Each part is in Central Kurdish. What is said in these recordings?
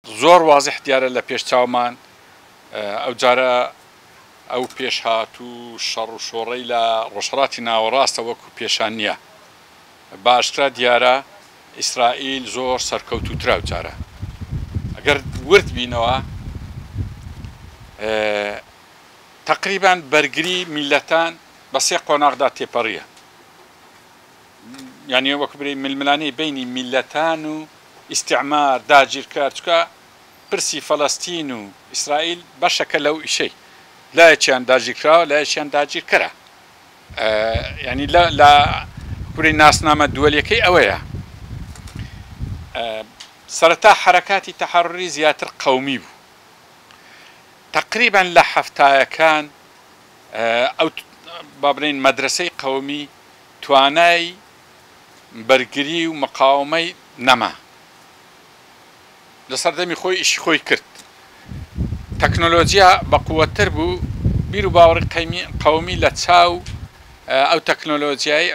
زۆر وازح دیارە لە پێش چاومان ئەو جارە ئەو پێشهات و شەڕ و شۆڕەی لە ڕۆژهەڵاتی ناوەڕاستە وەکو پێشان نیە بە ئاشکرا دیارە ئیسرائیل زۆر سەرکەوتوترە ئەو جارە گەر ورد بینەوە تەقریبەن بەرگری میللەتان بە سێ قۆناغدا تێپەڕیە. یانی وەک برێی ململانێی بەینی میللەتان و ئیستیعمار داگیرکەر چکا پرسی فەلەستین و ئیسرائیل بەشەکە لەو ئیشەی لایەکیان داگیرکراوە لایەکیان داگیرکەرە یانی لە لە کوری ناسنامە دووەلیەکەی ئەوەیە سەرەتا حرەکاتی تەحرری زیاتر قەومی بوو تقریبان لە حەفتایەکان ئەو بابرین مەدرسەی قەومی توانای بەرگری و مقاوەمەی نەما لەسەردەمی خۆی ئیشی خۆی کرد تەکنۆلۆجیا بەقوەتتر بوو بیرو باوڕی قەیمی قەومی لە چاو ئەو تەکنۆلۆجیای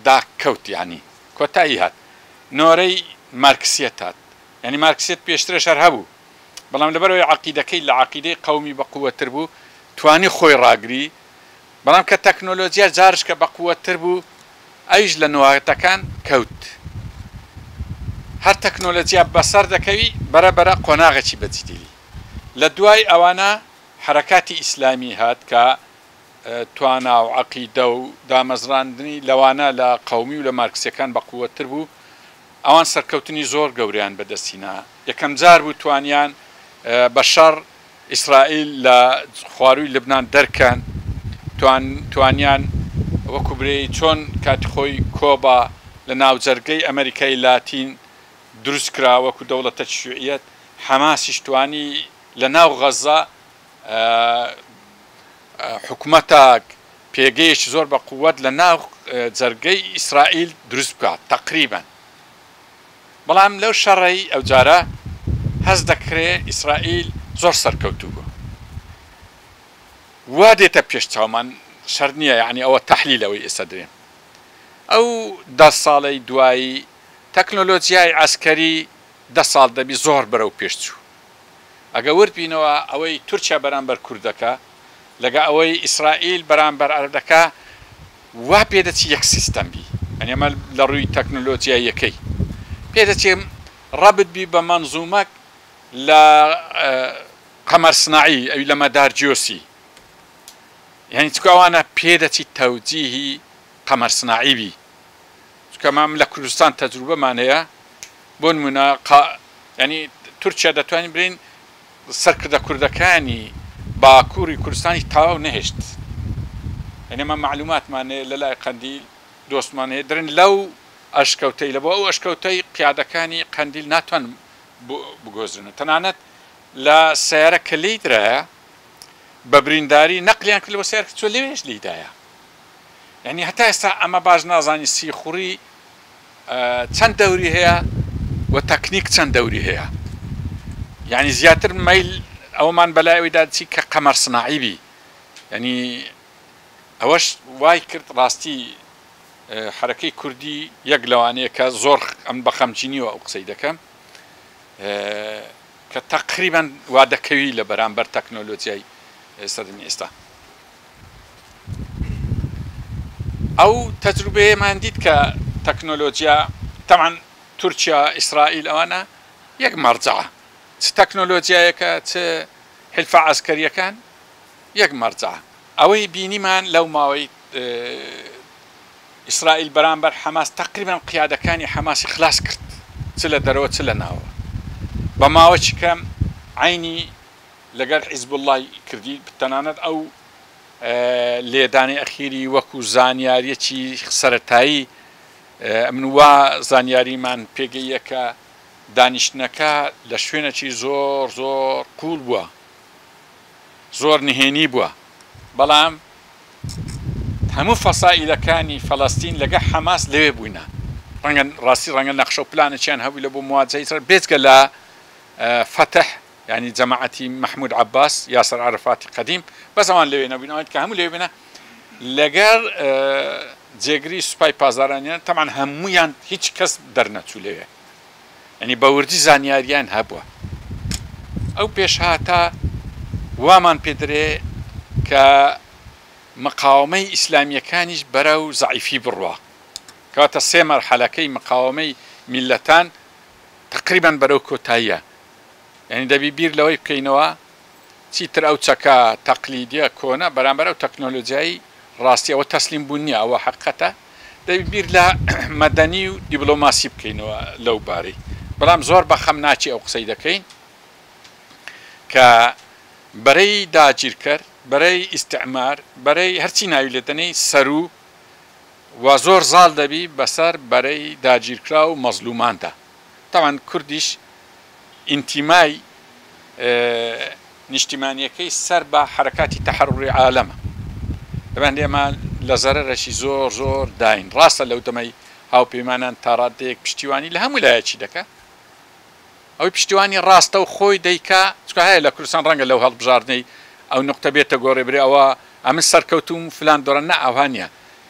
دا کەوت یانی کۆتایی هات نۆرەی مارکسیەت هات یانی مارکسیەت پێشترش هەر هەبوو بەڵام لەبەرەوەی عەقیدەکەی لە عەقیدەی قەومی بەقوەتتر بوو توانی خۆی ڕاگری بەڵام کە تەکنۆلۆجیا جاڕشکە بەقوەتتر بوو ئەویش لە نواگتەکان کەوت هەر تەکنۆلۆجیا بەسەر دەکەوی بەرە بەرە قۆناغێکی بەجدیلی لە دوای ئەوانە حەرەکاتی ئیسلامی هات کە توانا و عەقیدە و دامەزراندنی لەوانە لە قەومی و لە مارکسیەکان بەقوەتتر بوو ئەوان سەرکەوتنی زۆر گەورەیان بەدەستهینا یەکەم جار بوو توانیان بە شەڕ ئیسرائیل لە خوارووی لبنان دەرکەن توانیان وەکو برێی چۆن کاتی خۆی کۆبا لە ناوجەرگەی ئەمەریکای لاتین دروست کرا وەکو دەوڵەتەکی شیوعیەت حەماسیش توانی لە ناو غەزە حکومەتەک پێگەیەکی زۆر بە قوت لە ناو جەرگەی ئیسرائیل دروست بکات تەقریبەن بەڵام لەو شەڕەی ئەوجارە هەست دەکرێ ئیسرائیل زۆر سەرکەوتوو بوو. وا دێتە پێش چاومان شەر نییە یەعنی ئەوە تەحلیل ئەوەی ئێستا دەێم ئەو دە ساڵەی دوایی تەکنۆلۆجیای عەسکەری دە ساڵ دەبی زۆر بەرەو پێش چوو. ئەگە ورد بینەوە ئەوەی تورکیا بەرامبەر کورد دەکا لەگە ئەوەی ئیسرائیل بەرامبەر عەرەب دەکا وا پێ دەچی یەک سیستەم بی یانی ئەمە لە ڕووی تەکنۆلۆجیاییەکەی پێ دەچێ ڕەبت بی بە مەنزوومەک لە قەمەر سناعی ئەوی لە مەدار جیۆسی یانی چکە ئەوانە پێ دەچی تەوجیهی قەمەر سناعی بی چونکە مام لە کوردستان تەجروبەمان هەیە بۆ نمونە قا یانی تورکیا دەتوانین بلێین سەرکردە کوردەکانی باکوری کوردستانی تاو نەهێشت یانی ئەمە مەعلوماتمان هەیە لە لای قەندیل دۆستمان هەیە درن لەو ئەشکەوتەی لە بۆ ئەو ئەشکەوتەی قیادەکانی قەندیل ناتوان بو بگۆزرێنن تەنانەت لە سەیارە کە لێی درایە بە برینداری نەقلیان کرد لەوە سەیارکە چوە لەوێش لێی دایە. یانی هەتا ئێستا ئەمە باش نازانی سیخوڕی چەند دەوری هەیە و تەکنیک چەند دەوری هەیە یعنی زیاتر مەیل ئەومان بەلای ئەوی دادچی کە قەمەر سناعی بی ینی ئەوەش وای کرد ڕاستی حرەکەی کوردی یەک لەوانەیە کە زۆر ئەم بەخەمجینیوە ئەو قسەی دەکەم کە تەقریبان وادەکەوی لە بەرامبەر تەکنۆلۆجیای سەردەمی ئێستا ئەو تەجروبەیەمان دیت کە تەکنۆلۆجیا تەبعەن تورکیا ئیسرائیل ئەوانە یەک مەرجەعە چ تەکنۆلۆجیایەکە چ حلفە عەسکەریەکان یەک مەرجەعە ئەوەی بینیمان لەو ماوەی ئیسرائیل بەرامبەر حەماس تەقریبەن قیادەکانی حەماسی خلاس کرد چ لە دەرەوە چ لە ناوە بە ماوەی کەم عینی لەگەل حیزبوڵڵای کردی تەنانەت ئەو لێدانەی ئەخیری وەکو زانیاریەکی سەرەتایی من وا زانیاریمان پێگەیە کە دانیشتنەکە لە شوێنەکی زۆر زۆر قوول بووە زۆر نهێنی بووە بەڵام هەموو فەسائلەکانی فەلەستین لەگە حەماس لەوێ بووینە ڕەنگە ڕاستی ڕەنگە نەخشە و پلانەکیان هەبوو لە بۆ مواجهی سەر بێجگە لە فەتح یانی جەماعەتی مەحمود عەباس یاسر عەرەفاتی قەدیم بەس ئەوان لەوێ نەبووین ئەوان دیکە هەموو لەوێ بوونە لەگەر جێگری سوپای پازارانیان تەمان هەموویان هیچ کەس دەرنەچوو لەوێ ینی بەوردی زانیاریان هەبووە ئەو پێشهاتە وامان پێدرێ کە مقاومەی ئیسلامیەکانیش بەرە و زعیفی بڕە کاتە سێ مەرحەلەکەی مقاومەی میلەتان تقریبان بەرەو کۆتاییە یانی دەبی بیر لەوەی بکەینەوە چیتر ئەو چەکە تەقلیدیە کۆنە بەرامبەر ئەو تەکنۆلۆجیایی ڕاستی ئەوە تەسلیم بوون نیە ئەوە حقەتە دەبی بیر لە مەدەنی و دیبلۆماسی بکەینەوە لەو بارەی بەڵام زۆر بەخەم ناچی ئەو قسەی دەکەین کە بەرەی داگیرکەر بەرەی ئیسعمار بەرەی هەرچی ناوی لێدەنەی سەروو و زۆر زاڵ دەبی بەسەر بەرەی داگیرکرا و مەزلوماندا. تاوان کوردیش ئینتیمای نیشتیمانیەکەی سەر بە حەرەکاتی تەحەڕڕوری عالەمە دەبێن ئێمە لە زەرەرەشی زۆر زۆر داین ڕاستە لەو دەمەی هاوپەیمانان تاڕادەیەک پشتیوانی لە هەموو لایەکی دەکە ئەوەی پشتیوانی ڕاستە و خۆی دەیکا چکە هەیە لە کوردستان ڕەنگە لەو هەڵبژاردنەی ئەو نقطە بێتە گۆڕێ برێ ئەوە ئەمن سەرکەوتوم فلان دۆرە نە ئەوهانە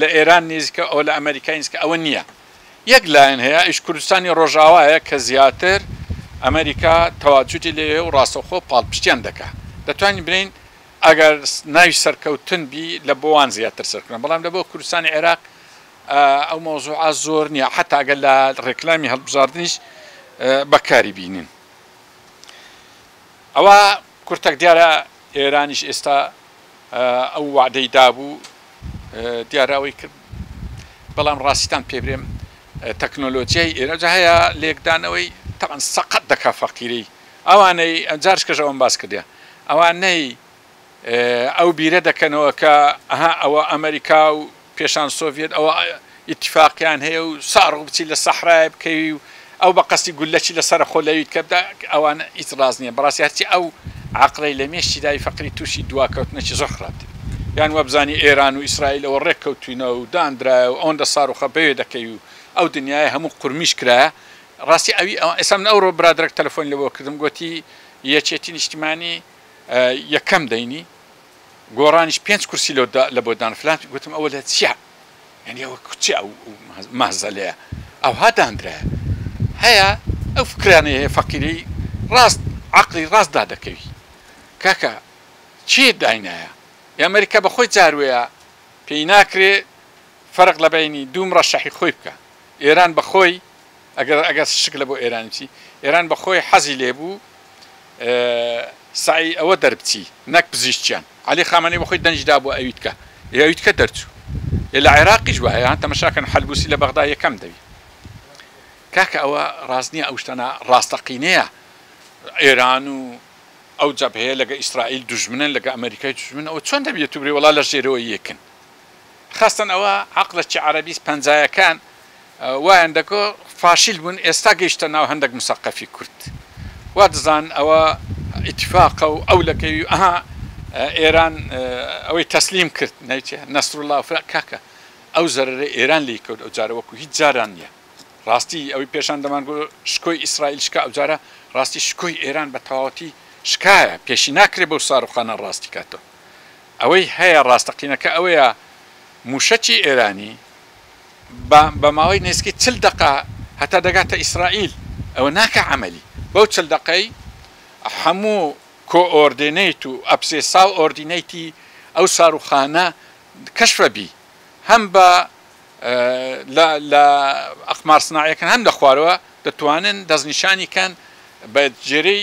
لە ئێران نیزیکە ئەوە لە ئەمەریکای نیزیکە ئەوە نیە یەک لایەن هەیە ئەویش کوردستانی ڕۆژاوایە کە زیاتر ئەمەریکا تەواجودی لێ هەیە و ڕاستەوخۆ پاڵپشتیان دەکا دەتوانین بلێین ئەگەر ناوی سەرکەوتن بی لە بۆ وان زیاتر سەرکەوتنە بەڵام لە بۆ کوردستانی عێراق ئەو مەوزوعە زۆر نیە حەتا گەر لە ڕێکلامی هەڵبژاردنیش بەکاری بینین ئەوە کورتەک دیارە ئێرانیش ئێستا ئەو وەعدەی دابوو دیارە ئەوەی کرد، بەڵام ڕاستیتان پێ برێم تەکنۆلۆجیای ئێرە جا هەیە لێکدانەوەی تەبعەن سەقەت دەکا فەقیرەی ئەوانەی جارش کەش ئەوەم باس کردە ئەوانەی ئەو بیرە دەکەنەوە کە ئەها ئەوە ئەمەریکا و پێشان سۆڤیەت ئەوە ئیتیفاقیان هەیە و ساڕۆ بچی لە سەحرایە بکەوی و ئەو بە قەستی گولەچی لە سەرە خۆ لەویت کە بدا ئەوان ئیت ڕاز نییە بەڕاستی هەرچی ئەو عقلەی لە مێشی داوی فەقری تووشی دواکەوتنەکی زۆر خراپتر یان وەبزانی ئێران و ئیسرائیل ئەوە ڕێک کەوتوینە و داندرایە و ئەوەندە ساڕوخە بەوێ دەکەوی و ئەو دنیایە هەموو قورمیش کرایە ڕاستی ئەوی ئەوان ئێستا من ئەوڕۆ برادەرەک تەلەفۆنی لەوە کردم گۆتی یەکێتی نیشتیمانی یەکەم دەینی گۆڕانیش پێنج کورسی لۆ دا لە بۆ دان فلان گوتم ئەوە لە چیا یانی ئەوە کوچی ئەو مەهزەلەیە ئەوها داندرایە هەیە ئەو فکرانەیە هەیە فەقیرەی ڕاست عەقڵی ڕاست دا دەکەوی کاکە چی داینایە یا ئەمریکا بە خۆی جاروەیە پێی ناکرێ فەرق لە بەینی دوو مڕەشەحی خۆی بکا ئێران بە خۆی ئەگەر ئەگەر شک لەبۆ ئێرانی بچی ئێران بەخۆی حەزی لێبوو سەعی ئەوە دەربچی نەک پزیشکیان عەلی خامەنەی بەخۆی دەنگی دابوو ئەویتکە ئەویتکە دەرچوو لە عێراقیش وایە تەمەشاکەن حەلبوسی لە بەغدا یەکەم دەوی کاکە ئەوە ڕاست نییە ئەو شتانە ڕاستەقینەیە ئێران و ئەو جەبهەیە لەگە ئیسرائیل دوژمنن لەگە ئەمریکای دوژمن ئەوە چۆن دەبێت و برێ وڵا لە ژێرەوە یەکن خەستن ئەوە عەقڵە چی عەرەبی پەنجایەکان وایان دەکۆ فاشیل بون ئێستا گەیشتە ناو هەندەک مسەقەفی کورد وادەزان ئەوە ئیتیفاقە و ئەو لەکەوی و ئەها ئێران ئەوەی تەسلیم کرد نەیچێ نەسروڵا و فرە کاکە ئەو زەرەرەی ئێران لی کەوت ئەو جارە وەکو هیچ جاران نیە ڕاستی ئەوەی پێشان دەمان گۆ شکۆی ئیسرائیل شکا ئەو جارە ڕاستی شکۆی ئێران بە تەواوەتی شکایە پێشی ناکرێ بەو ساروخانە ڕاستی کاتەوە ئەوەی هەیە ڕاستەقینەکە ئەوەیە مووشەکی ئێرانی بە بە ماوەی نێزیکەی چل دەقە هەتا دەگاتە ئیسرائیل ئەوە ناکا عەمەلی بەو چل دەقەی هەموو کۆئۆردێنەیت و ئەپسێسا و ئۆردینەیتی ئەو ساروخانە کەشفە بی هەم بە لە لە ئەقمار سناعیەکان هەم لە خوارەوە دەتوانن دەستنیشانی کەن بە جێرەی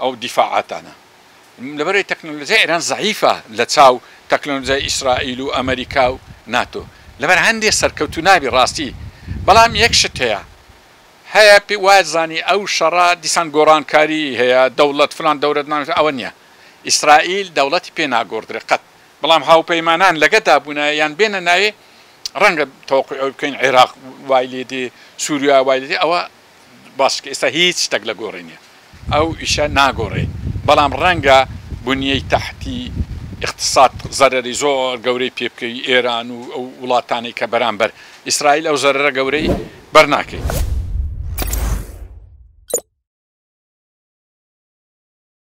ئەو دیفاعاتانە لەبەرەی تەکنەلۆجیای ئێران زەعیفە لە چاو تەکنەلۆجیای ئیسرائیل و ئەمەریکا و ناتۆ لەبەر هەندێ سەرکەوتوو نابی ڕاستی بەڵام یەک شت هەیە هەیە پێ وایت زانی ئەو شەڕە دیسان گۆڕانکاری هەیە دەوڵەت فلان دەورەت ناوێت ئەوە نیە ئیسرائیل دەوڵەتی پێ ناگۆڕدرێ قەت بەڵام هاوپەیمانان لەگەدا بوونایە یان بێنە ناوێ ڕەنگە تەوەقوی ئەوەی بکەین عێراق وای لێدێ سوریا وای لێدێ ئەوە باشە کە ئێستا هیچ شتەک لە گۆڕێ نیە ئەو ئیشە ناگۆڕێ بەڵام ڕەنگە بنیەی تەحتی ئیقتساد زەرەری زۆر گەورەی پێ بکەی ئێران و ئەو وڵاتانەی کە بەرامبەر ئیسرائیل ئەو زەرەرە گەورەی بەر ناکەی.